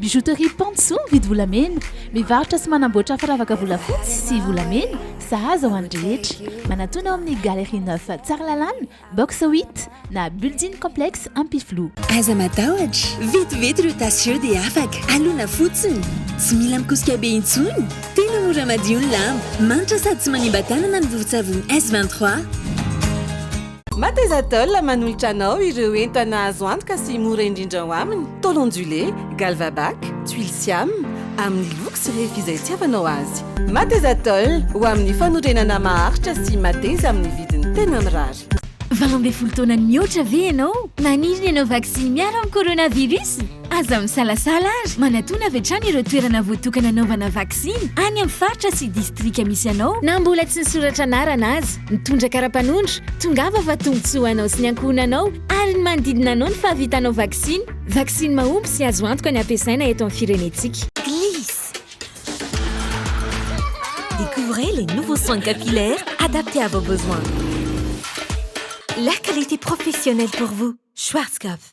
Bijouterie Pantsou mividy volamena. Mivarotra sy manamboatra firavaka volafotsy sy volamena, sahaza ho an'ny rehetra. Manatòna ao amin'ny Galerie Neuf Tsaralalàna, Box 8, na Building Complexe Ampifiloha. Aza matahotra, vetivety ireo tasy ireo dia afaka. Alona fotsiny. Tsy mila mikosika be intsony. Tena mora madio ny lamba. Manitra sady tsy manimba tanana ny vovon-tsavony S23. Mathesatel manolotra anao ireo entana azo antoka sy mora indrindra ao aminy, tôle ondulée, Galvabac, tuiles siam, amin'ny loko sy refy izay itiavanao azy. Mathesatel, ho amin'ny fanorenana maharitra sy mateza amin'ny vidiny tena mirary. Valo ambin'ny folo taona nihoatra ve ianao? Maniry ny hanao vaksiny miaro amin'ny coronavirus? Aza misalasala ary manatona avy hatrany ireo toerana voatokana hanaovana vaksiny any amin'ny faritra sy distrika misy anao na mbola tsy nisoratra anarana aza. Mitondra kara-panondro, tongava fa tombontsoa ho anao sy ny ankohonanao ary ny manodidina anao ny fahavitanao vaksiny. Vaksiny mahomby sy azo antoka ny hampiasaina eto amin'ny firenentsika. Gliss. Découvrez les nouveaux soins capillaires adaptés à vos besoins. La qualité professionnelle pour vous, Schwarzkopf.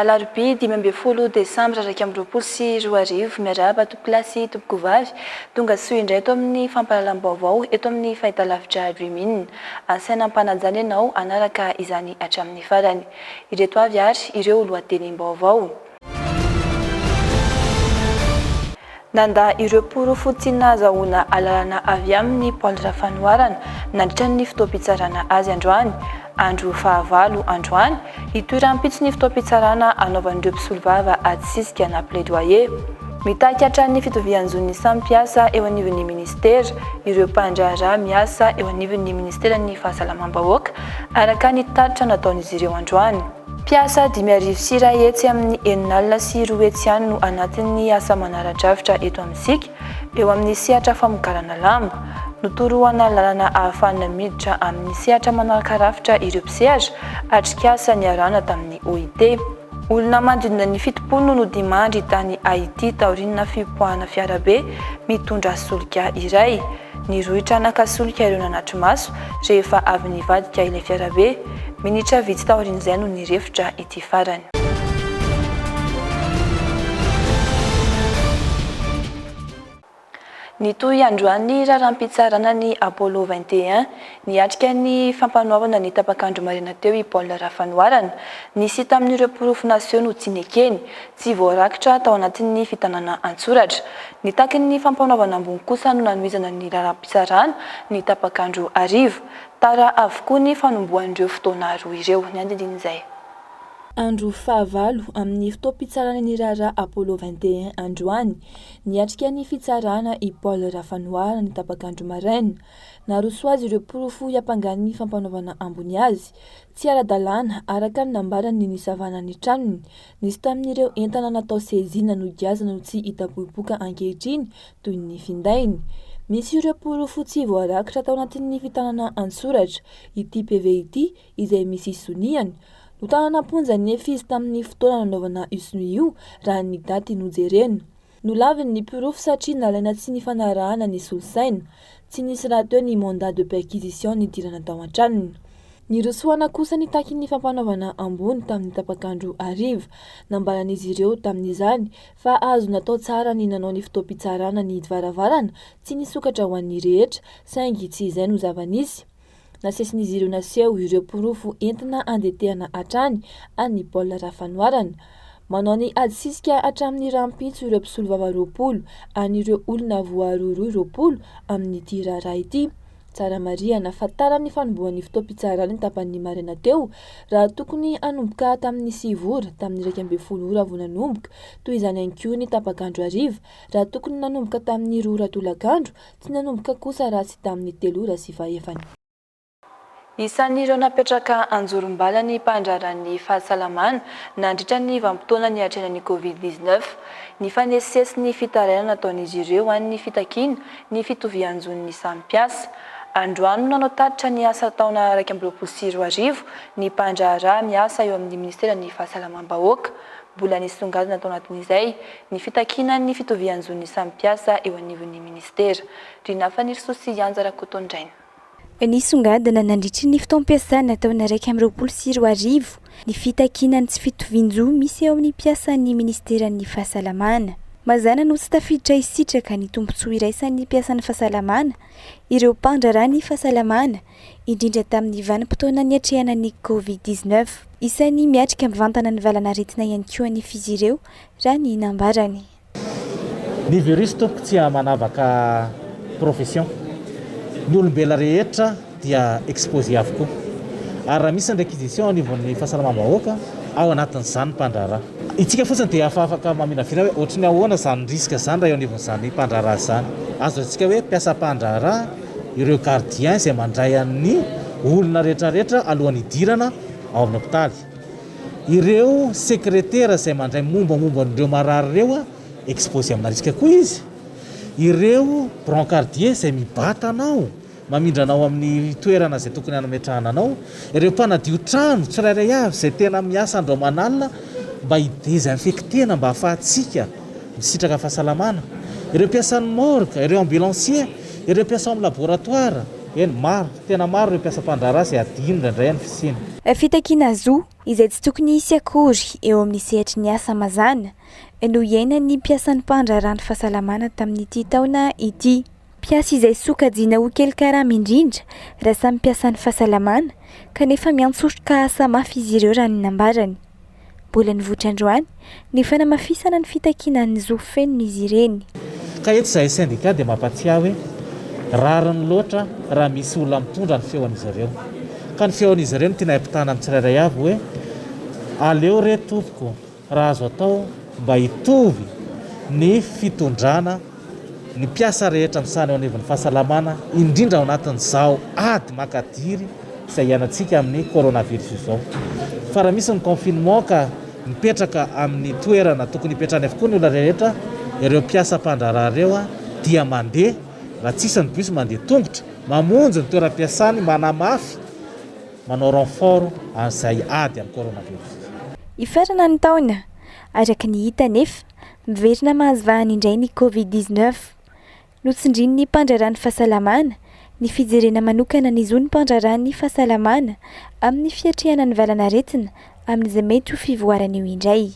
Alarobia dimy ambin'ny folo desambra iraika amby roapolo sy roa arivo. Miarahaba tompokolahy sy tompokovavy. Tonga soa indray eto amin'ny fampahalalam-baovao eto amin'ny fahitalavitra Dream-In. Asaina ampanajana ianao hanaraka izany hatramin'ny farany. Ireto avy ary ireo lohatenim-baovao. Nandà ireo porofo tsy nahazahoana alalana avy aminy Paul Rafanoharana nandritra ny fotoam-pitsarana azy androany, andro fahavalo androany, hitohy rahampitso ny fotoam-pitsarana hanaovan'ireo mpisolovava ady sisika na plaidoyer. Mitaky hatrany fitovian-jo ny samy mpiasa eo anivon'ny ministera ireo mpandraharaha miasa eo anivon'ny ministeran'ny fahasalamam-bahoaka, araka ny tatitra nataon'izy ireo androany. Mpiasa dimy arivo sy iray hetsy amin'ny enina alina sy roa hetsy ihany no anatin'ny asa manara-drafitra eto amintsika eo amin'ny sehatra famokarana lamba. Notoroana lalana ahafahana miditra amin'ny sehatra manaraka rafitra ireo mpisehatra, atrikasa niarahana tamin'ny OIT. Olona manodidina ny fitopolo no nodimandry tany Haiti taorian'ny fipoahana fiarabe mitondra solika iray. Niroitra naka solika ireo nanatri-maso rehefa avy nivadika ilay fiarabe. Minitra vitsy taorian'izay no nirefotra ity farany. Nitohy androany ny raharaham-pitsarana ny Apollo vingt et un. Niatrika ny fampanoavana ny tapak'andro maraina teo i Paul Rafanoharana. Nisy tamin'ireo porofo naseho no tsy nekeny. Tsy voarakitra tao anatin'ny fitanana an-tsoratra. Ny takin'ny fampanaovana ambony kosa no nanohizana ny lalam-pitsarana ny tapak'andro hariva. Tara avokoa ny fanombohan'ireo fotoana roa ireo. Ny andindin'izay. Andro fahavalo amin'ny fotoam-pitsarana ny raharaha Apollo vingt et un androany. Niatrika ny fitsarana i Paul Rafanohara ny tapak'andro maraina. Naroso azy ireo porofo hiampangan'ny fampanaovana ambony azy. Tsy ara-dalàna, araka ny nambarany ny nisavana ny tranony, Nisy tamin'ireo entana natao sezina nogiazana no tsy hita popoka ankehitriny toy ny findainy. Misy ireo porofo tsy voarakitra tao anatin'ny fitanana an-tsoratra ity PV ity izay misy soniany. Notanana am-ponja nefy izy tamin'ny fotoana nanaovana io sonia io raha ny daty nojerena. Nolaviny ny porofo satria nalaina tsy nifanarahana ny solosaina. Tsy nisy rahateo ny mandat de perquisition nidirana tao an-tranony. Nirosoana kosa ny takin'ny fampanaovana ambony tamin'ny tapak'andro hariva. Nambaran'izy ireo tamin'izany fa azo natao tsara ny nanao ny fotoam-pitsarana ny varavarana tsy nisokatra ho an'ny rehetra, saingy tsy izay no zava-nisy. Nasesin'izy ireo naseho ireo porofo entina andetehana hatrany an'i Paul Rafanoharana. Manao ny adisisika hatramin'ny rahampitso ireo mpisolovava roapolo an'ireo olona voarohirohy roapolo amin'ity raharaha ity. Tsara marihana fa tara ny fanombohan'ny fotoam-pitsarany tapany maraina teo raha tokony hanomboka tamin'ny sivy ora tamin'ny iraika ambin'ny folo ora vao nanomboka, toy izany ihany koa ny tapak'andro hariva raha tokony nanomboka tamin'ny roa ora tolakandro Tsy nanomboka kosa raha tsy tamin'ny telo ora sy fahefany. Isan'ireo napetraka anjorom-bala ny mpandraharaha ny fahasalamana nandritra ny vanim-potoana niatrehana ny Covid dix-neuf. Nifanesisesy ny fitarainana nataon'izy ireo an'ny fitakiana ny fitovian-jon'ny samy mpiasa. Androany no nanao tatitra ny asa taona iraika amby roapolo sy roa arivo ny mpandraharaha miasa eo amin'ny minisiteran'ny Fahasalamam-bahoaka. Mbola nisongadina tao anatin'izay ny fitakiana ny fitovian-jon'ny samy mpiasa eo anivon'ny minisitera. Rina Fanirisoa sy Yanja Rakotondraina. Nisongadina nandritry ny fotoam-piasana taona iraika amby roapolo sy roa arivo ny fitakiana ny tsy fitovian-jo misy eo amin'ny mpiasan'ny minisiteran'ny Fahasalamana. Mazàna no tsy tafiditra hisitraka ny tombontsoa iraisan'ny mpiasan'ny fahasalamana ireo mpandraharaha ny fahasalamana indrindra tamin'ny vanim-potoana niatrehana ny Covid dix neuf. Isan'ny miatrika mivantana ny valan'aretina ihany koa anefa izy ireo, raha ny nambarany. Ny virus tompoko tsy amanavaka profession. Ny olombela rehetra dia exposé avokoa. Ary raha misy ny réquisition ao anivon'ny fahasalamam-bahoaka, ao anatin'izany ny mpandraharaha. Itsika fotsiny dia efa afaka maminavina hoe ohatry ny ahoana izany risque izany raha eo anivon'izany mpandraharaha izany. Azo lazaintsika hoe mpiasam-pandraharaha ireo gardiens izay mandray an'ny olona rehetrarehetra alohan'ny hidirana ao amin'ny hopitaly, ireo sekretera izay mandray mombamomba an'ireo marary ireo exposé amina risque koa izy, ireo brancardiers izay mibata anao, mamindra anao amin'ny toerana izay tokony hanametrahana anao, ireo mpanadio trano tsirairay avy izay tena miasa andro aman'alina mba hi-desinfecter-na mba hahafahantsika. Misitraka fahasalamana ireo mpiasan'ny morgue, ireo ambulanciers, ireo mpiasa ao amin'ny laboratoire, eny maro, tena maro ireo mpiasa mpandraharaha izay hadino indraindray amin'ny fisiana. Fitakiana zo izay tsy tokony hisy akory eo amin'ny sehatry ny asa mazàna no iainan'ny mpiasan'ny mpandraharaha ny fahasalamana tamin'ity taona ity. Mpiasa izay sokajiana ho kely karama indrindra raha samy mpiasan'ny fahasalamana kanefa miantsoroka asa mafy izy ireo raha ny nambarany. Mbola nivoitra androany ny fanamafisana ny fitakiana ny zo fenon'izy ireny. Ka eto izahay sendika dia mampatsiahy hoe rariny loatra raha misy olona mitondra ny feon'izy ireo. Ka ny feon'izy ireo no tianay ampitana amin'ny tsirairay avy hoe aleo re tompoko. Raha azo atao mba hitovy ny fitondrana ny mpiasa rehetra misahana eo anivon'ny fahasalamana indrindra ao anatin'izao ady makadiry izay hiainantsika amin'ny coronavirus izao fa raha misy ny confinement ka mipetraka amin'ny toerana tokony hipetrahany avokoa ny olona rehetra ireo mpiasa mpandraharaha ireo dia mandeha raha tsisy ny bus mandeha tongotra mamonjy ny toeram-piasany manamafy Manao renfort an'izay ady amin'ny coronavirus. Hifarana ny taona, araka ny hita anefa, miverina mahazo vahana indray ny Covid dix-neuf. Notsindrin'ny mpandraharaha ny fahasalamana ny fijerena manokana ny zon'ny mpandraharaha ny fahasalamana amin'ny fiatrehana ny valan'aretina amin'izay mety ho fivoarana eo indray.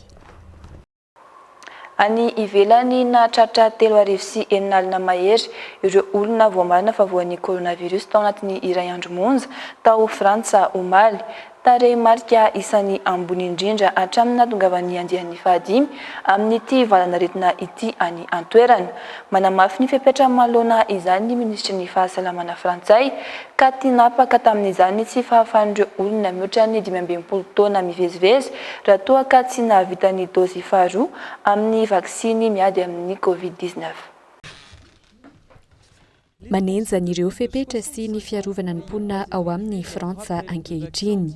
Any ivelany, nahatratra telo arivo sy enina alina mahery ireo olona voamarina fa voan'ny coronavirus tao anatin'ny iray andro monja tao Frantsa omaly. Tarehimarika isan'ny ambony indrindra hatramin'ny nahatongavan'ny andiany fahadimy amin'ity valan'aretina ity any an-toerana. Manamafy ny fepetra manoloana izany ny minisitry ny fahasalamana frantsay, ka tinapaka tamin'izany tsy fahafahan'ireo olona mihoatra ny dimy ambin'ny folo taona mivezivezy raha toa ka tsy nahavita ny dozy faharoa amin'ny vaksiny miady amin'ny Covid dix-neuf. Manenjana ireo fepetra sy ny fiarovana ny mponina ao aminy i Frantsa ankehitriny.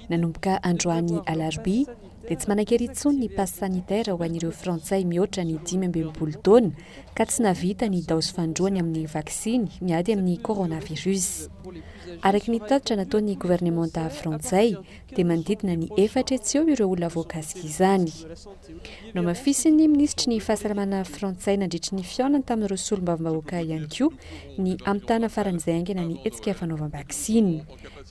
Nanomboka androany alarobia, dia tsy manan-kery intsony ny passe sanitaire ho an'ireo Frantsay mihoatra ny dimy ambin'ny folo taona, ka tsy nahavita ny daozy fahandroany amin'ny vaksiny miady amin'ny coronavirus. Araka ny tatitra nataon'ny governemanta frantsay, dia manodidina ny efatra etsy eo ireo olona voakasika izany. Nohamafisin'ny minisitry ny Fahasalamana frantsay nandritry ny fihaonany tamin'ireo solombavambahoaka ihany koa ny hamitana faran'izay haingana ny hetsika fanaovam-baksiny.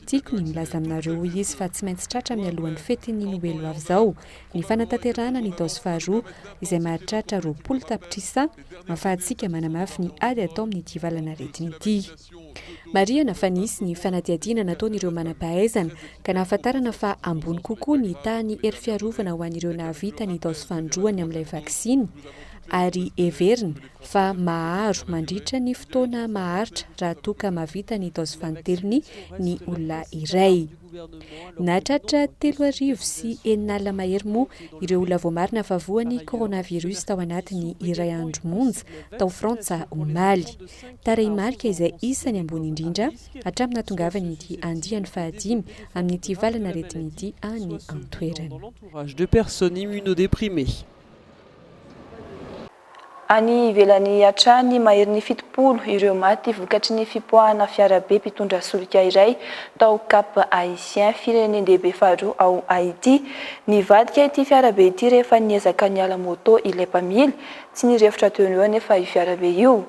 Tiako ny milaza aminareo, hoy izy, fa tsy maintsy tratra mialohan'ny fetin'ny Noely ho avy izao Ny fanatanterahana ny taos faharoa izay mahatratra roapolo tapitrisa ahafahantsika manamafy ny ady atao amin'ity valan'aretina ity. Marihana fa nisy ny fanadihadiana nataon'ireo manam-pahaizana ka nahafantarana fa ambony kokoa ny tahan'ny hery fiarovana ho an'ireo nahavita ny taos fandroany amin'ilay vaksiny ary heverina fa maharo mandritra ny fotoana maharitra raha toa ka mahavita ny taos fantelony ny olona iray. Nahatratra telo arivo sy enina alina mahery moa ireo olona voamarina fa voan'ny coronavirus tao anatin'ny iray andro monja tao Frantsa omaly. Tarehimarika izay isany ambony indrindra hatramin'ny nahatongavan'ity andiany fahadimy amin'ity valan'aretina ity any an-toerana. Any ivelany hatrany, maherin'ny fitopolo ireo maty vokatry ny fipoahana fiarabe mpitondra solika iray tao Cap Haïtien, firenen-dehibe faharoa ao Haiti. Nivadika ity fiarabe ity rehefa niezaka niala moto ilay mpamily. Tsy nirefotra teo ho eo anefa io fiarabe io.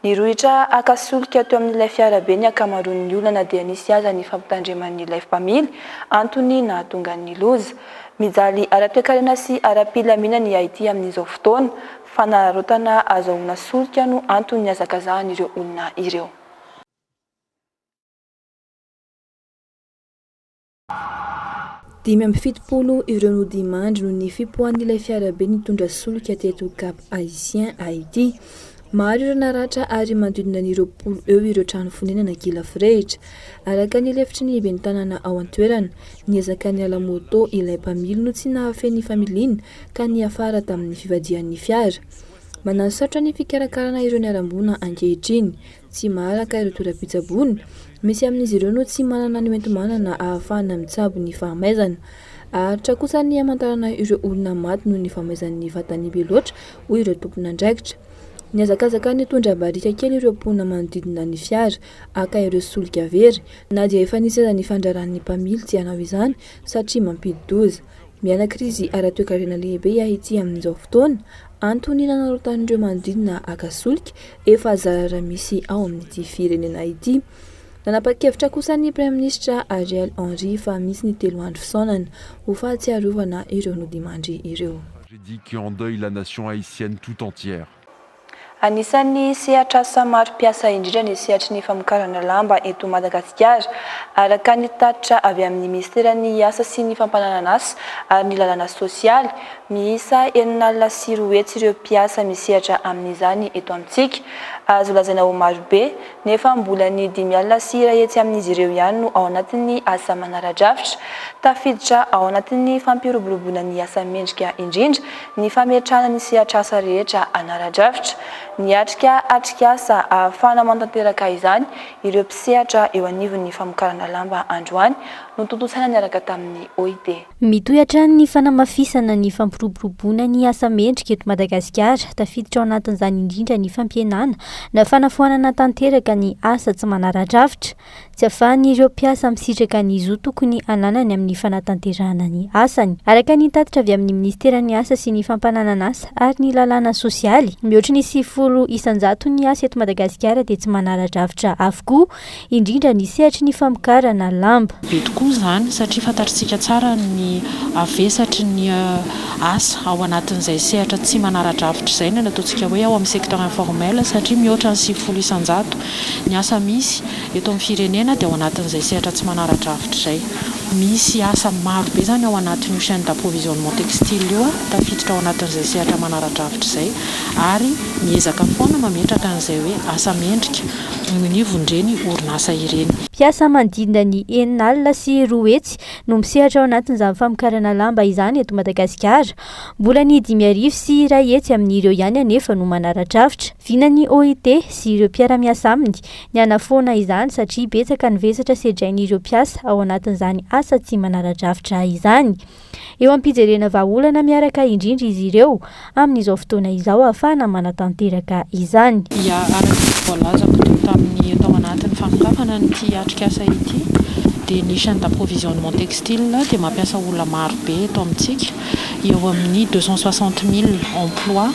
Nirohitra haka solika teo amin'ilay fiarabe ny ankamaroan'ny olona na dia nisy aza ny fampitandreman'ny life mpamily antony nahatonga ny loza. Mijaly ara-toekarena sy ara-pilaminana i Haiti amin'izao fotoana. Fanararaotana azahoana solika no anton'ny nihazakazahan'ireo olona ireo. Dimy amby fitopolo ireo nodimandry noho ny fipoahan'ilay fiarabe nitondra solika teto Cap Haïtien, Haiti. Maro ireo naratra ary manodidina ny roapolo eo ireo trano fonenana kila forehitra. Araka ny lefitry ny ben'ny tanàna ao an-toerana, niezaka niala moto ilay mpamily no tsy nahafehy ny familiana ka niafara tamin'ny fivadihan'ny fiara. Manasaotra ny fikarakarana ireo niharam-boina ankehitriny tsy maharaka ireo toeram-pitsaboana, misy amin'izy ireo no tsy manana ny hoenti-manana ahafahana mitsabo ny fahamaizana. Haharitra kosa ny hamantarana ireo olona maty noho ny fahamaizan'ny vatany be loatra, hoy ireo tompon'andraikitra. Nihazakazaka nitondra barika kely ireo mponina manodidina ny fiara Haka ireo solika very, na dia efa nisy aza ny fandraran'ny mpamily tsy hanao izany satria mampidi-doza. Miaina krizy ara-toekarena lehibe Haiti amin'izao fotoana, antony nanararaotan'ireo manodidina haka solika efa zara misy ao amin'ity firenena ity. Nanapa-kevitra kosa ny Praiminisitra Ariel Henry fa misy ny telo andro fisaonana ho fahatsiarovana ireo nodimandry ireo. Tragédie qui endeuille la nation haïtienne tout entière. Anisan'ny sehatr'asa maro mpiasa indrindra ny sehatry ny famokarana lamba eto Madagasikara, araka ny tatitra avy amin'ny minisiteran'ny Asa sy ny fampananan'asa ary ny lalàna sosialy. Miisa enina alina sy roa hetsy ireo mpiasa misehatra amin'izany eto amintsika. Azo lazaina ho marobe, nefa mbola ny dimy alina sy iray hetsy amin'izy ireo ihany no ao anatin'ny asa manara-drafitra, tafiditra ao anatin'ny fampiroboroboana ny asa mendrika indrindra, ny fametrahana ny sehatr'asa rehetra an'ara-drafitra, niatrika atrikasa ahafahana manatanteraka izany ireo mpisehatra eo anivon'ny famokarana lamba androany, notontosaina niaraka tamin'ny OIT. Mitohy hatrany ny fanamafisana ny fampiroboroboana ny asa mendrika eto Madagasikara, tafiditra ao anatin'izany indrindra ny fampihenana na fanafoanana tanteraka ny asa tsy manara-drafitra, Tsy afahan'ireo mpiasa misitraka ny zo tokony ananany amin'ny fanatanterahana ny asany. Araka ny tatitra avy amin'ny Minisiteran'ny Asa sy ny Fampananan'asa ary ny Lalàna Sosialy, mihoatry ny sivifolo isan-jato ny asa eto Madagasikara dia tsy manara-drafitra avokoa, indrindra ny sehatry ny famokarana lamba. Be tokoa izany satria fantatr'isika tsara ny havesatry ny asa ao anatin'izay sehatra tsy manara-drafitra izay ny ataontsika hoe ao amin'ny secteur informel satria mihoatra ny sivifolo isan-jato Ny asa misy eto amin'ny firenena dia ao anatin'izay sehatra tsy manara-drafitra izay. Misy asa maro be izany ao anatin'io chaine d'approvisionnement textile io, tafiditra ao anatin'izay sehatra manara-drafitra izay ary miezaka foana mametraka an'izay hoe asa mendrika eo anivon'ireny orinasa ireny. Mpiasa manodidina ny enina alina sy roa hetsy no misehatra ao anatin'izany famokarana lamba izany eto Madagasikara. Mbola ny dimy arivo sy iray hetsy amin'ireo ihany anefa no manara-drafitra. Vinan'ny OIT sy ireo mpiara-miasa aminy ny hanafoana izany satria betsaka ny vesatra sedrain'ireo mpiasa ao anatin'izany asa tsy manara-drafitra izany. Eo am-pijerena vahaolana miaraka indrindra izy ireo amin'izao fotoana izao ahafahana manatanteraka izany. Ia, araka ny voalazako teo tamin'ny tao anatin'ny fanokafana an'ity atrikasa ity dia ny chaine d'approvisionnement textile dia mampiasa olona maro be eto amintsika. eo amin'ny deux cent soixante mille emploi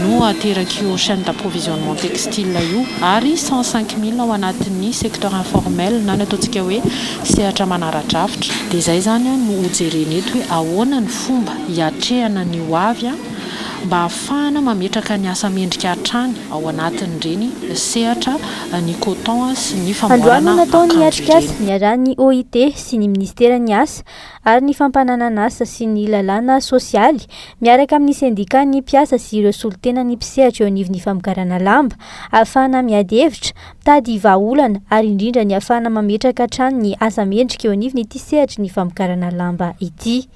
no aterak'io chaine d'approvisionnement textile io ary cent cinq mille ao anatin'ny secteur informel na ny ataontsika hoe sehatra manara-drafitra. Dia izay izany no hojerena eto hoe ahoana ny fomba hiatrehana ny ho avy mba hahafahana mametraka ny asa mendrika hatrany ao anatin'ireny sehatra ny coton sy ny famboarana akanjo ireny. Androany no natao ny atrikasa niarahan'ny OIT sy ny minisiteran'ny Asa ary ny fampananan'asa sy ny lalàna sosialy miaraka amin'ny sendikàn'ny mpiasa sy ireo solontenan'ny mpisehatra eo anivon'ny famokarana lamba, ahafahana miady hevitra, mitady vahaolana ary indrindra ny ahafahana mametraka hatrany ny asa mendrika eo anivon'ity sehatry ny famokarana lamba ity.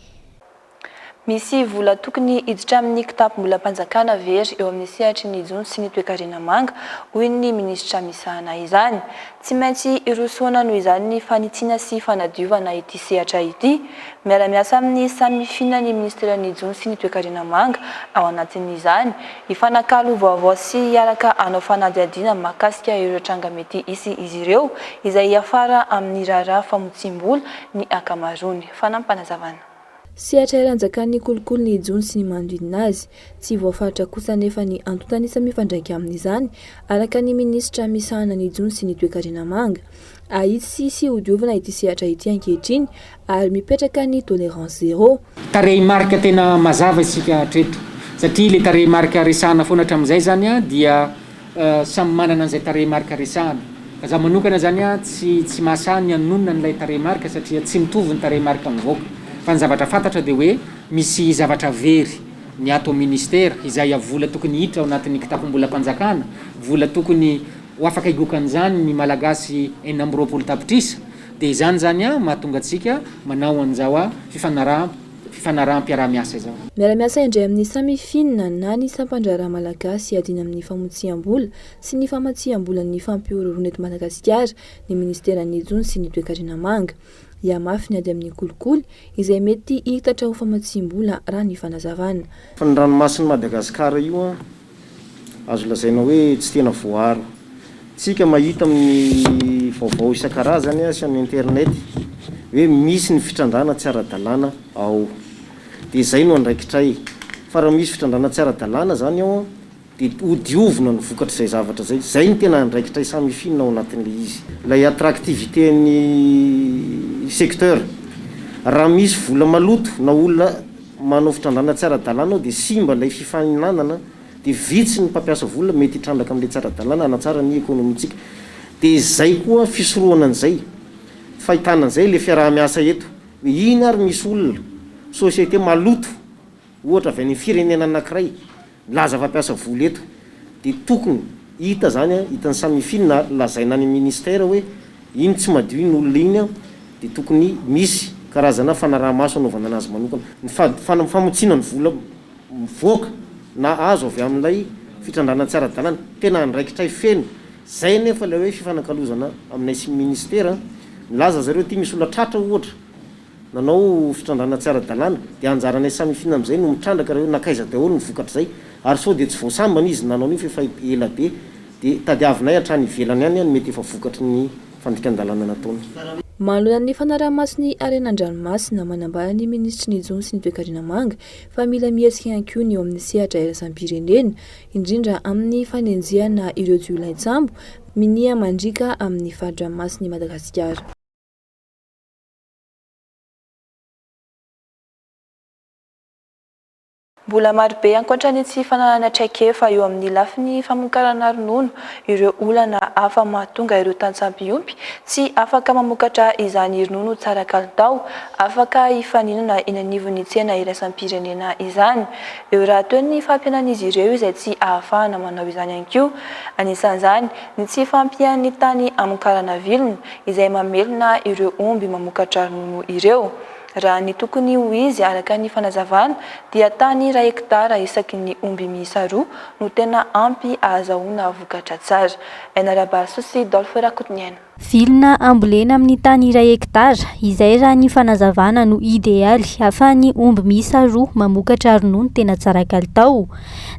Misy vola tokony hiditra amin'ny kitapom-bolam-panjakana very eo amin'ny sehatry ny jono sy ny toekarena manga, hoy ny minisitra misahana izany. Tsy maintsy hirosoana noho izany ny fanitsiana sy fanadiovana ity sehatra ity. Miara-miasa amin'ny samifina ny minisiteran'ny jono sy ny toekarena manga ao anatin'izany, hifanakalo vaovao sy hiaraka hanao fanadihadiana mahakasika ireo tranga mety hisy izy ireo, izay hiafara amin'ny raharaha famotsiam-bola ny ankamaroany. Fanampinazavana. Sehatra iray anjakan'ny kolikoly ny jono sy ny manodidina azy. Tsy voafaritra kosa anefa ny antontan'isa mifandraika amin'izany, araka ny minisitra misahana ny jono sy ny toekarena manga. Ahitsy sy hodiovina ity sehatra ity ankehitriny ary mipetraka ny tolerance zero. Tarehimarika tena mazava isika hatreto satria ilay tarehimarika resahana foana hatramin'izay izany dia. Samy manana an'izay tarehimarika resahana. Za manokana zany a tsy tsy mahasahy ny hanonona an'ilay tarehimarika satria tsy mitovy ny tarehimarika mivoaka. Fa ny zavatra fantatra dia hoe misy zavatra very ny ato amin'ny ministera, izay a vola tokony hiditra ao anatin'ny kitapom-bolam-panjakana, vola tokony ho afaka higokan'izany ny Malagasy enina amby roapolo tapitrisa. Dia izany zany a mahatonga antsika manao an'izao a fifanaraham-. fifanaraham-piaraha-miasa izao. Miara-miasa indray amin'ny Samifin na ny Sampandraharaha Malagasy iadiana amin'ny famotsiam-bola sy ny famatsiam-bolan'ny fampihorohoroana eto Madagasikara ny Ministeran'ny Jono sy ny Toekarena Manga. Hihamafy ny ady amin'ny kolikoly izay mety hiitatra ho famatsiam-bola raha ny fanazavana. Fa ny ranomasin'i Madagasikara io Azo lazaina hoe tsy tena voaaro. Tsika mahita amin'ny vaovao isan-karazany sy amin'ny internet hoe misy ny fitrandràna tsy ara-dalàna ao. Dia izay no andraikitray. Fa raha misy fitrandràna tsy ara-dalàna izany ao dia ho diovina ny vokatr'izay zavatra izay. Izay no tena andraikitray samifinina ao anatin'ilay izy. Ilay attractivité-n'ny secteur. Raha misy vola maloto na olona. manao fitrandrahana tsy ara-dalàna ao dia simba ilay fifaninanana dia vitsy ny mpampiasa vola mety hitrandraka amin'ilay tsy ara-dalàna hanatsara ny ekonomintsika dia izay koa fisorohana an'izay fahitana an'izay ilay fiaraha-miasa eto hoe iny ary misy olona, société, maloto ohatra avy any amin'ny firenena anankiray. Milaza fa mpiasa vola eto dia tokony hita izany an, hitan'ny samy finy na lazaina any amin'ny ministère hoe iny tsy madio iny olona iny an, dia tokony misy karazana fanaraha-maso anaovana anazy manokana. Ny fady, famotsiana ny vola mivoaka na azo avy amin'ilay fitrandrahana tsy ara-dalàna, tena andraikitray feno. Izay anefa ilay hoe fifanakalozana aminay sy ny ministera an. Milaza zareo aty misy olona tratra ohatra. nanao fitrandrahana tsy ara-dalàna, dia anjaranay samy hifinana amin'izay no mitrandraka raha eo, nankaiza daholo ny vokatr'izay? Ary sao dia tsy voasambana izy nanao an'io fa efa ela be, dia tadiavinay hatrany ivelany any ny mety efa vokatry ny fandikan-dalàna nataony. Manoloana ny fanaraha-maso ny harena an-dranomasina, manambara ny minisitry ny Jono sy ny Toekarena manga fa mila mihetsika ihany koa ny eo amin'ny sehatra iraisam-pirenena, indrindra amin'ny fanenjehana ireo jiolain-tsambo minia mandriaka amin'ny fari-dranomasin'i Madagasikara. Mbola marobe ankoatra ny tsy fananana traikefa eo amin'ny lafiny famokarana ronono ireo olana hafa mahatonga ireo tantsaha mpiompy tsy afaka mamokatra izany ronono tsara kalitao afaka hifaninana eny anivon'ny tsena iraisam-pirenena izany. Eo rahateo ny fampihenan'izy ireo izay tsy ahafahana manao izany ihany koa. Anisan'izany ny tsy fahampian'ny tany hamokarana vilona, izay mamelona ireo omby mamokatra ronono ireo. Raha ny tokony ho izy, araka ny fanazavana, dia tany iray hektara isaky ny omby miisa roa no tena ampy ahazahoana vokatra tsara. NRabahasoa sy Dolph Rakotoniaina. Vilona ambolena amin'ny tany iray hektara, izay raha ny fanazavana no idealy hahafahan'ny omby miisa roa mamokatra ronono tena tsara kalitao.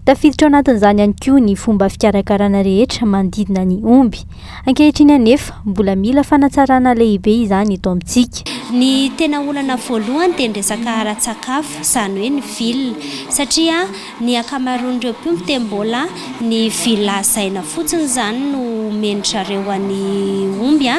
Tafiditra ao anatin'izany ihany koa ny fomba fikarakarana rehetra manodidina ny omby. Ankehitriny anefa, mbola mila fanatsarana lehibe izany eto amintsika. Ny tena olana voalohany dia ny resaka ara-tsakafo, izany hoe ny villa. Satria ny ankamaroan'ireo mpiompy dia mbola ny villa hazaina fotsiny izany no omen-dry zareo an'ny omby,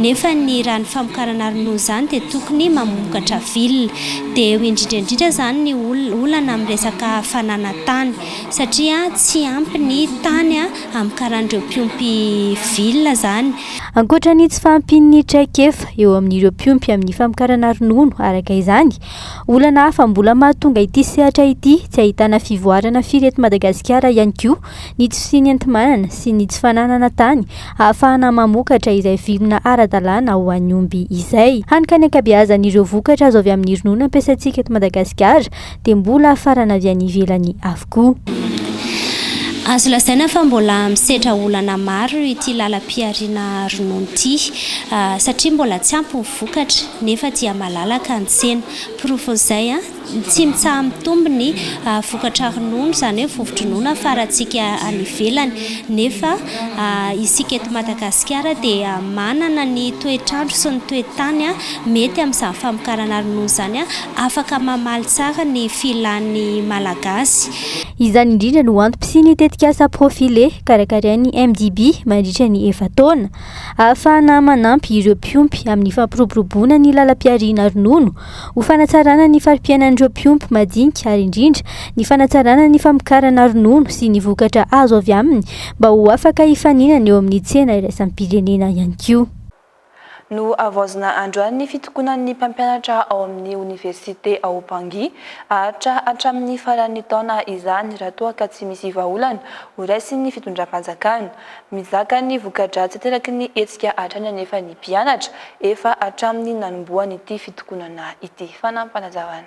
nefa ny raha ny famokarana ronono izany dia tokony mamokatra villa. Dia eo indrindra indrindra izany ny olana amin'ny resaka fananantany, satria tsy ampy ny tany. hamokaran'ireo mpiompy villa izany. Ankoatra ny tsy fahampian'ny traikefa eo amin'ireo mpiompy amin'ny famokarana ronono araka izany, olana hafa mbola mahatonga ity sehatra ity tsy ahitana fivoarana firy eto Madagasikara ihany koa ny tsy fisian'ny enti-manana sy ny tsy fananana tany ahafahana mamokatra izay vilona ara-dalàna ho an'ny omby izay hany ka ny ankabeazan'ireo vokatra azo avy amin'ny ronono ampiasaintsika eto Madagasikara dia mbola hafarana avy any ivelany avokoa. Azo lazaina fa mbola misedra olana maro ity lalam-pihariana ronono ity, satria mbola tsy ampy ny vokatra nefa dia malalaka ny tsena. Porofon'izay, tsy mitsaha-mitombo ny vokatra ronono, izany hoe vovo-dronono hafarantsika any ivelany, nefa isika eto Madagasikara dia manana ny toetr'andro sy ny toe-tany mety amin'izany famokarana ronono izany. afaka mamaly tsara ny filan'ny Malagasy. Izany indrindra no antom-pisian'ny tetikasa Profile karakarain'ny MDB mandritra ny efa-taona, ahafahana manampy ireo mpiompy amin'ny fampiroboroboana ny lalam-pihariana ronono, ho fanatsarana ny fari-piainan'ireo mpiompy madinika ary indrindra ny fanatsarana ny famokarana ronono sy ny vokatra azo avy aminy mba ho afaka hifaninana eo amin'ny tsena iraisam-pirenena ihany koa. Nohavaozina androany ny fitokonan'ny mpampianatra ao amin'ny oniversite ao Bangui. Haharitra hatramin'ny faran'ny taona izany raha toa ka tsy misy vahaolana horaisin'ny fitondram-panjakana. Mizaka ny voka-dratsy ateraky ny hetsika hatrany anefa ny mpianatra, efa hatramin'ny nanombohan'ity fitokonana ity. Fanampazavana.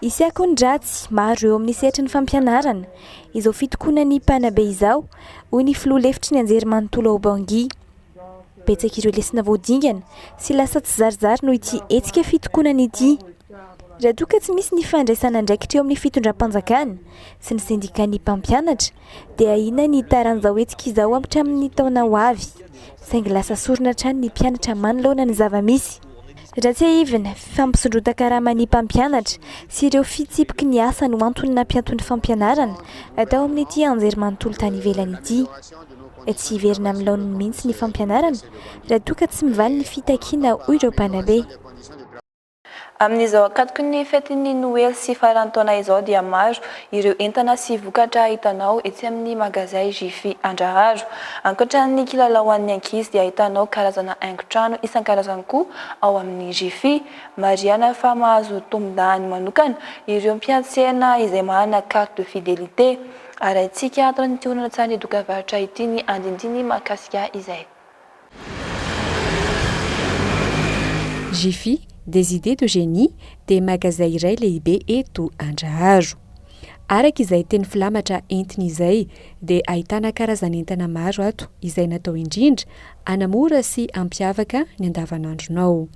Hisy akony-dratsy maro eo amin'ny sehatry ny fampianarana izao fitokonan'ny mpanabe izao, hoy ny filoha lefitry ny anjerimanontolo ao Bangui. Betsaka ireo lesona vao dingana sy lasa tsy zarizary noho ity hetsika fitokonana ity. Raha toa ka tsy misy ny fandraisana andraikitra eo amin'ny fitondram-panjakana sy ny sendikan'ny mpampianatra, dia inona ny hitaran'izao hetsika izao hatramin'ny taona ho avy? Saingy lasa sorona hatrany ny mpianatra manoloana ny zava-misy. Raha tsiahivina, fifampisondrotan-karaman'ny mpampianatra sy ireo fitsipiky ny asa no antony nampianton'ny fampianarana atao amin'ity anjerimanontolo tany ivelany ity. Tsy hiverina amin'ny laoniny mihitsy ny fampianarana raha toa ka tsy mivaly ny fitakiana, hoy ireo mpanabe. Amin'izao ankatoky ny fetin'ny Noely sy faran'ny taona izao dia maro ireo entana sy vokatra hitanao etsy amin'ny magazay Jiffy Andraharo. Ankoatran'ny kilalao ho an'ny ankizy dia ahitanao karazana haingon-trano isan-karazany koa ao amin'ny Jiffy. Marihana fa mahazo tombon-dahany manokana ireo mpiantsena izay manana carte de fidelité. Arahintsika ato amin'ity horonantsarin'ny dokambarotra ity ny andinindiny mahakasika izay. Jiffy, des idées de génie, dia magazay iray lehibe eto Andraharo. Araka izay teny filamatra entiny izay, dia ahitana karazan'entana maro ato izay natao indrindra hanamora sy hampiavaka ny andavanandronao.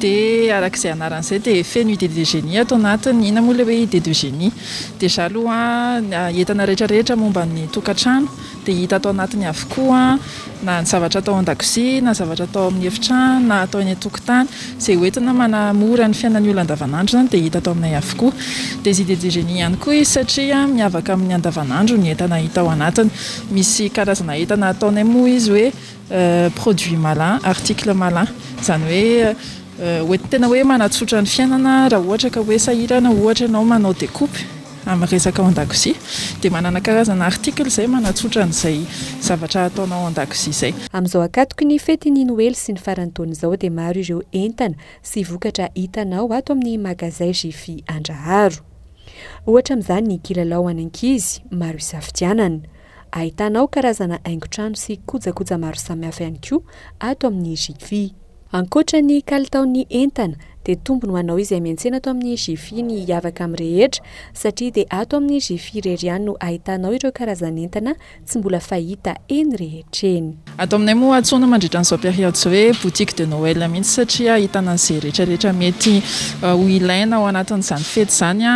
Dia araka izay anarany izay dia feno idée de génie ato anatiny. Inona moa ilay hoe idée de génie? Déjà aloha ny entana rehetra rehetra momba ny tokantrano dia hita ato anatiny avokoa, na ny zavatra atao an-dakozia, na zavatra atao amin'ny efitrano, na atao eny an-tokotany. Izay ho entina manamora ny fiainan'ny olona andavanandro izany dia hita ato aminay avokoa. Des idées de génie ihany koa izy satria miavaka amin'ny andavanandro ny entana hita ao anatiny. Misy karazana entana ataonay moa izy hoe produit malin, article malin, izany hoe hoentina tena hoe manatsotra ny fiainana raha ohatra ka hoe sahirana ohatra ianao manao decoupe amin'ny resaka ao an-dakozia dia manana karazana article izay manatsotra an'izay zavatra ataonao ao an-dakozia izay. Amin'izao ankatoky ny fetin'ny noely sy ny faran'ny taona izao dia maro ireo entana sy vokatra hitanao ato amin'ny magazay Jiffy Andraharo. Ohatra amin'izany ny kilalao ho an'ankizy maro isafidianana. Ahitana ao karazana haingon-trano sy kojakoja maro samihafa ihany koa ato amin'ny Jiffy. Ankoatra ny kalitaon'ny entana dia tombony ho anao izay miantsena ato amin'ny Jiffy ny hiavaka amin'ny rehetra satria dia ato amin'ny Jiffy irery ihany no ahitanao ireo karazan'entana tsy mbola fahita eny rehetra eny. Ato aminay moa antsoina mandritra an'izao periode izao hoe boutique de Noël mihitsy satria ahitana an'izay rehetra rehetra mety ho ilaina ao anatin'izany fety izany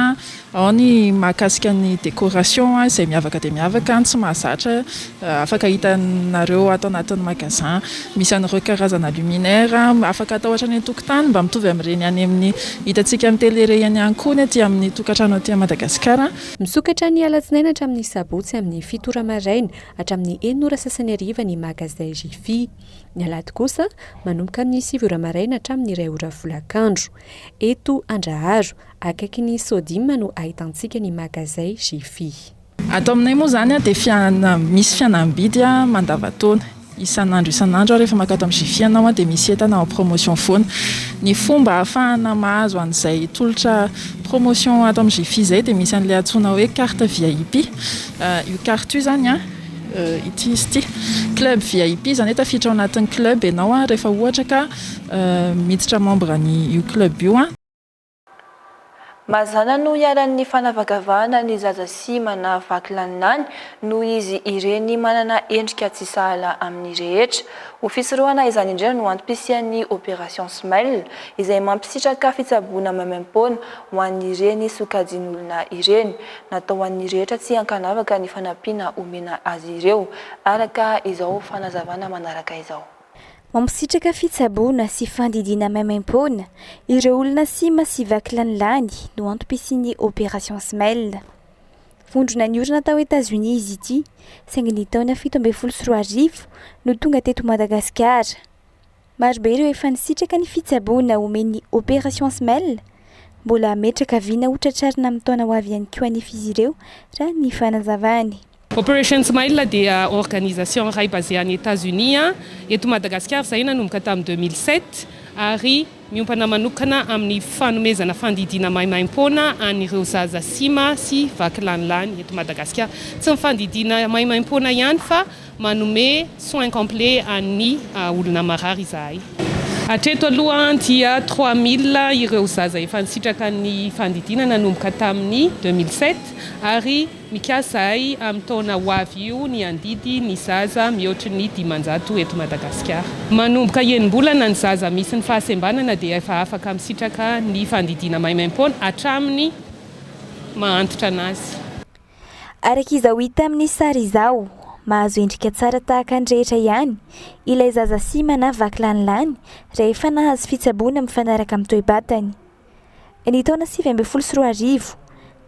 Ao ny mahakasika ny décoration izay miavaka dia miavaka ny tsy mahazatra afaka hitanareo ato anatin'ny magasin. Misy an'ireo karazana luminaire afaka atao hatrany an-tokotany mba mitovy amin'ireny any amin'ny hitantsika amin'ny télé ireny ihany koa ny aty amin'ny tokantrano aty Madagasikara. Misokatra ny alatsinainy hatramin'ny sabotsy amin'ny fito ora maraina hatramin'ny enina ora sasany hariva ny magasin Jiffy. Ny alahady kosa manomboka amin'ny sivy ora maraina hatramin'ny iray ora folakandro. Eto Andraharo, Akaiky ny Sodima no ahitantsika ny magazay Jiffy. Ato aminay moa izany dia fiana, misy fianam-bidy mandavan-taona. Isan'andro isan'andro rehefa mankao ato amin'ny Jiffy ianao dia misy entana en promotion foana. Ny fomba ahafahana mahazo an'izay tolotra promotion ato amin'ny Jiffy izay dia misy an'ilay antsoina hoe carte VIP. Io carte io izany, ity izy ity, club VIP izany hoe tafiditra ao anatin'ny club ianao rehefa ohatra ka miditra membre an'io club io. Mazàna no iharan'ny fanavakavahana ny zaza sy manavaky laninany noho izy ireny manana endrika tsy sahala amin'ny rehetra. Ho fisorohana izany indrindra no antom-pisian'ny Opération Smile, izay mampisitraka fitsaboana maimaim-poana ho an'ireny sokajin'olona ireny. Natao ho an'ny rehetra tsy ankanavaka ny fanampiana omena azy ireo, araka izao fanazavana manaraka izao. Mampisitraka fitsaboana sy fandidiana maimaimpoana ireo olona sima sy vaky lany lany no antom-pisian'ny Opération Smile. Vondrona niorina tao Etazonia izy ity, saingy ny taona fito ambin'ny folo sy roa arivo no tonga teto Madagasikara. Marobe ireo efa nisitraka ny fitsaboana omen'ny Opération Smile. Mbola hametraka vina ho tratrarina amin'ny taona ho avy ihany koa anefa izy ireo, raha ny fanazavany. Operation Smile dia organisation iray basée any Etats-Unis, eto Madagasikara izahay nanomboka tamin'ny deux mille sept ary miompana manokana amin'ny fanomezana fandidiana maimaimpoana an'ireo zaza sima sy vaky lanilany eto Madagasikara. Tsy ny fandidiana maimaimpoana ihany fa manome soins complets an'ny olona marary izahay. Hatreto aloha dia trois mille ireo zaza efa nisitraka ny fandidiana nanomboka tamin'ny deux mille sept ary. Mikasa izahay amin'ny taona ho avy io ny handidy ny zaza mihoatry ny dimanjato eto Madagasikara. Manomboka enim-bolana ny zaza misy ny fahasembanana dia efa afaka misitraka ny fandidiana maimaim-poana hatramin'ny maha antitra an'azy. Araka izao hita amin'ny sary izao, mahazo endrika tsara tahaka ny rehetra ihany ilay zaza sima na vaky lanilany rehefa nahazo fitsaboana mifanaraka amin'ny toe-batany. Ny taona sivy ambin'ny folo sy roa arivo,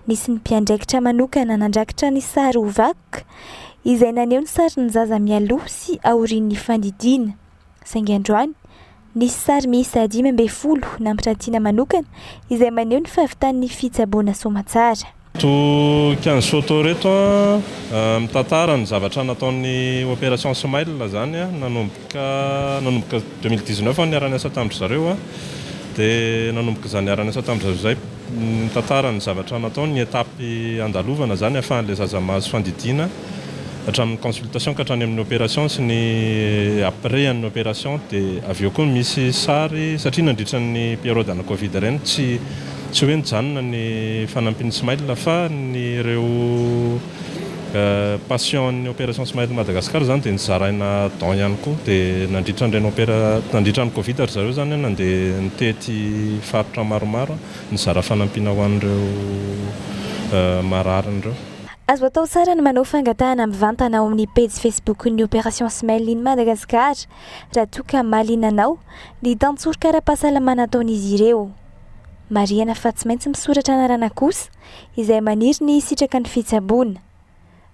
nisy ny mpiandraikitra manokana nandrakitra ny sary ho vakoka, izay naneho ny sarin'ny zaza mialoha sy aorian'ny fandidiana. Saingy androany, nisy sary miisa dimy ambin'ny folo nampirantiana manokana izay maneho ny fahavitan'ny fitsaboana soamantsara. To Quinze photos reto an, mitantara ny zavatra nataon'ny Opération Smile zany an, nanomboka nanomboka deux mille dix neuf aho niara-niasa tamin-dry zareo an, dia nanomboka izaho niara-niasa tamin-dry zareo izay, mitantara ny zavatra nataony, ny étape andalovana izany ahafahan'ilay zaza mahazo fandidiana hatramin'ny consultation ka hatrany amin'ny opération sy ny après an'ny opération, dia avy eo koa misy sary satria nandritra ny période ana covid ireny tsy Tsy hoe nijanona ny fanampin'ny Smile fa ny ireo patients an'ny Opération Smile Madagascar izany dia nozaraina don ihany koa dia nandritra an'ireny opera nandritra ny covid ry zareo izany nandeha nitety faritra maromaro nizara fanampiana ho an'ireo marariny ireo. Azo atao tsara ny manao fangatahana mivantana ao amin'ny pejy Facebook ny Opération Smile in Madagascar raha toa ka mahaliana anao ny tantsoroka ara-pahasalamana ataon'izy ireo. Marihana fa tsy maintsy misoratra anarana kosa izay maniry ny hisitraka ny fitsaboana.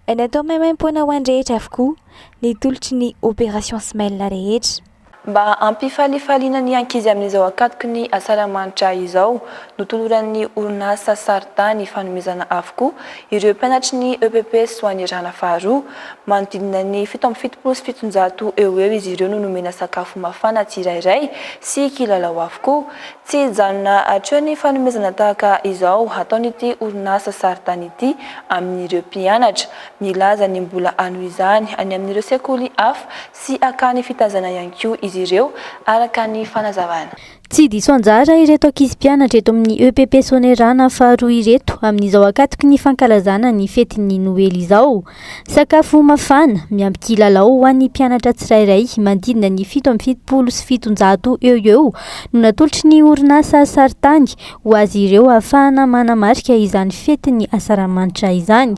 Natao maimaim-poana ho an'ny rehetra avokoa ny tolotry ny Opération Smile rehetra. Mba hampifalifaliana ny ankizy amin'izao akatoky ny asaramanitra izao, notoloran'ny orinasa Sarta ny fanomezana avokoa ireo mpianatry ny EPP Soanierana faharoa. Manodidina ny fito amby fitopolo sy fitonjato eo ho eo izy ireo no nomena sakafo mafana tsirairay sy kilalao avokoa. Tsy hijanona hatreo ny fanomezana tahaka izao hataon'ity orinasa Saritany ity amin'ireo mpianatra. Milaza ny mbola hanohy izany any amin'ireo sekoly hafa sy hakany fitaizana ihany koa izy ireo, araka ny fanazavana. Tsy diso anjara ireto ankizy mpianatra eto amin'ny EPP Soanierana faharoa ireto amin'izao ankatoky ny fankalazana ny fetin'ny Noely izao. Sakafo mafana, miampy kilalao ho an'ny mpianatra tsirairay manodidina ny fito amby fitopolo sy fitonjato eo ho eo no natolotry ny orinasa Saritany ho azy ireo ahafahana manamarika izany fetin'ny Asaramanitra izany.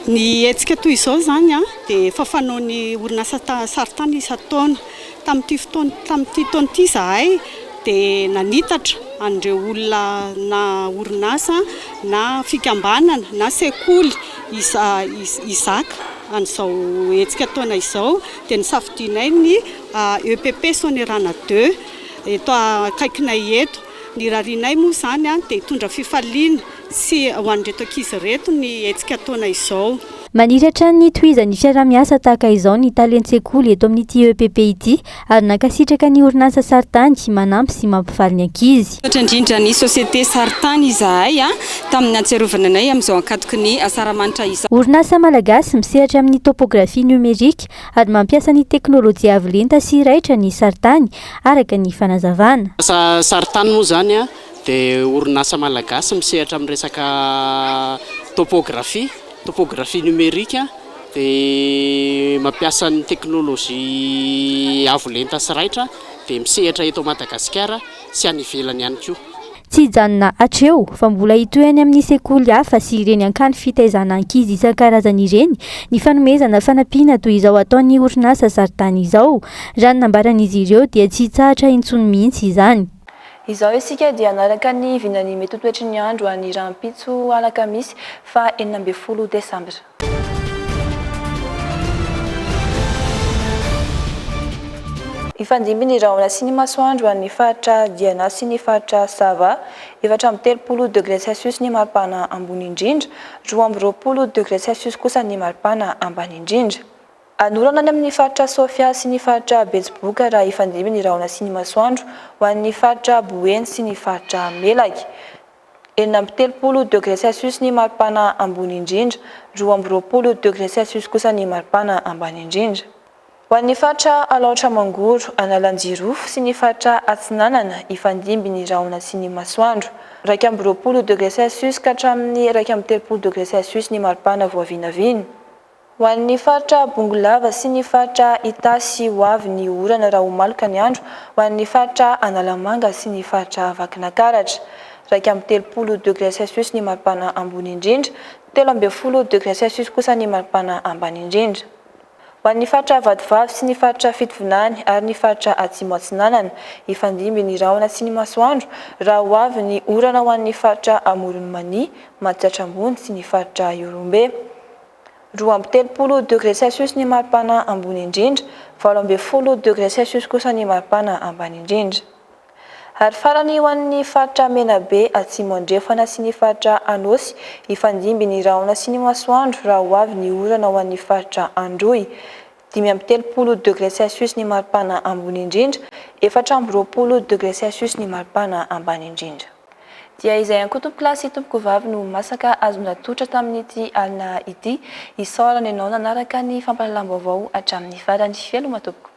Ny hetsika toy izao izany dia efa fanaon'ny orinasa Saritany isan-taona. Tamin'ity fotoana, tamin'ity taona ity izahay dia nanitatra an'ireo olona na orinasa na fikambanana na sekoly hizaka an'izao hetsika taona izao dia nisafidianay ny EPP Sonerana deux eto akaikinay eto. Ny rarianay moa izany dia hitondra fifaliana. Tsy ho an'ireto ankizy ireto ny hetsika ataonay izao. Maniry hatrany ny hitohizan'ny fiaraha-miasa tahaka izao ny talen-tsekoly eto amin'ity EPP ity ary nankasitraka ny orinasa Saritany manampy sy mampifaly ny ankizy. Misaotra indrindra ny Société Saritany izahay tamin'ny nahatsiarovana anay amin'izao ankatoky ny Asaramanitra izao. Orinasa malagasy misehatra amin'ny topografia niomerika ary mampiasa ny teknolojia avo lenta sy raitra ny Saritany, araka ny fanazavana. Asa Saritany moa izany dia orinasa malagasy misehatra amin'ny resaka topografia, topographie numérique, dia mampiasa ny teknolojia avo lenta sy raitra, dia misehatra eto Madagasikara sy any ivelany ihany koa. Tsy hijanona hatreo fa mbola hitohy any amin'ny sekoly hafa sy ireny hankany fitaizana ankizy isan-karazany ireny ny fanomezana fanampiana toy izao ataon'ny orinasa Zaridany izao, raha ny nambaran'izy ireo dia tsy hitsahatra intsony mihitsy izany. Izao isika dia hanaraka ny vinan'ny mety ho toetry ny andro any rahampitso alakamisy faha enina ambin'ny folo desambra. Hifandimby ny rahona sy ny masoandro any faritra Diana sy ny faritra Sava, efatra amby telopolo degre celsius ny maripana ambony indrindra, roa amby roapolo degre celsius kosa ny maripana ambany indrindra. Hanorana any amin'ny faritra Sofia sy ny faritra Betsiboka raha hifandimby ny rahona sy ny masoandro ho an'ny faritra Boeny sy ny faritra Melaky. Enina amby telopolo degré Celsius ny maripana ambony indrindra, roa amby roapolo degré Celsius kosa ny maripana ambany indrindra. Ho an'ny faritra Alaotra Mangoro, Analanjirofo sy ny faritra Atsinanana hifandimby ny rahona sy ny masoandro, iraika amby roapolo degré Celsius ka hatramin'ny iraika amby telopolo degré Celsius ny maripana vao vinavina. Ho an'ny faritra Bongolava sy ny faritra Itasy ho avy ny orana raha ho maloka ny andro, ho an'ny faritra Analamanga sy ny faritra Vakinakaratra. Iraika amby telopolo degre Celsius ny maripana ambony indrindra, telo ambin'ny folo degre Celsius kosa ny maripana ambany indrindra. Ho an'ny faritra Vatovavy sy ny faritra Fitovinany ary ny faritra Atsimo Atsinanana, hifandimby ny rahona sy ny masoandro raha ho avy ny orana ho an'ny faritra Amoron'i Mania, Matsiatra Ambony sy ny faritra Ihorombe. Roa amby telopolo degré Celsius ny maripana ambony indrindra, valo ambin'ny folo degré Celsius kosa ny maripana ambany indrindra. Ary farany ho an'ny faritra Menabe Atsimo Andrefana sy ny faritra Anôsy, hifandimby ny rahona sy ny masoandro raha ho avy ny orana ho an'ny faritra Androy, dimy amby telopolo degré Celsius ny maripana ambony indrindra, efatra amby roapolo degré Celsius ny maripana ambany indrindra. Dia izay ankotom-pilahy sy tompokovavy no ho masaka azony ratotra tamin'ity alina ity. Isaorana ianao nanaraka ny fampahalalam-baovao hatramin'ny farany. Veloma tompoko.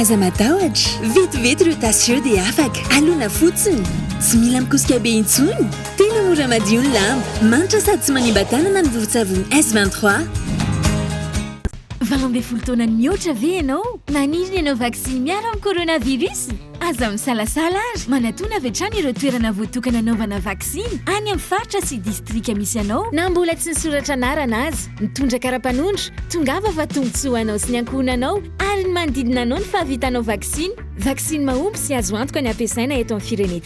Aza matahotra, vetivety ireo tasy ireo dia afaka. Alona fotsiny. Tsy mila mikosika be intsony. Tena mora madio ny lamba. Manitra sady tsy manimba tanana ny vovon-tsavony S23. Valo ambin'ny folo taona mihoatra ve ianao? Maniry ny hanao vaksiny miaro amin'ny coronavirus? Aza misalasala ary manatona avy hatrany ireo toerana voatokana hanaovana vaksiny any amin'ny faritra sy distrika misy anao na mbola tsy nisoratra anarana aza. Mitondra kara-panondro, tongava fa tombontsoa ho anao sy ny ankohonanao. ary ny manodidina anao ny fahavitanao vaksiny, vaksiny mahomby sy azo antoka ny hampiasaina eto amin'ny firenentsika.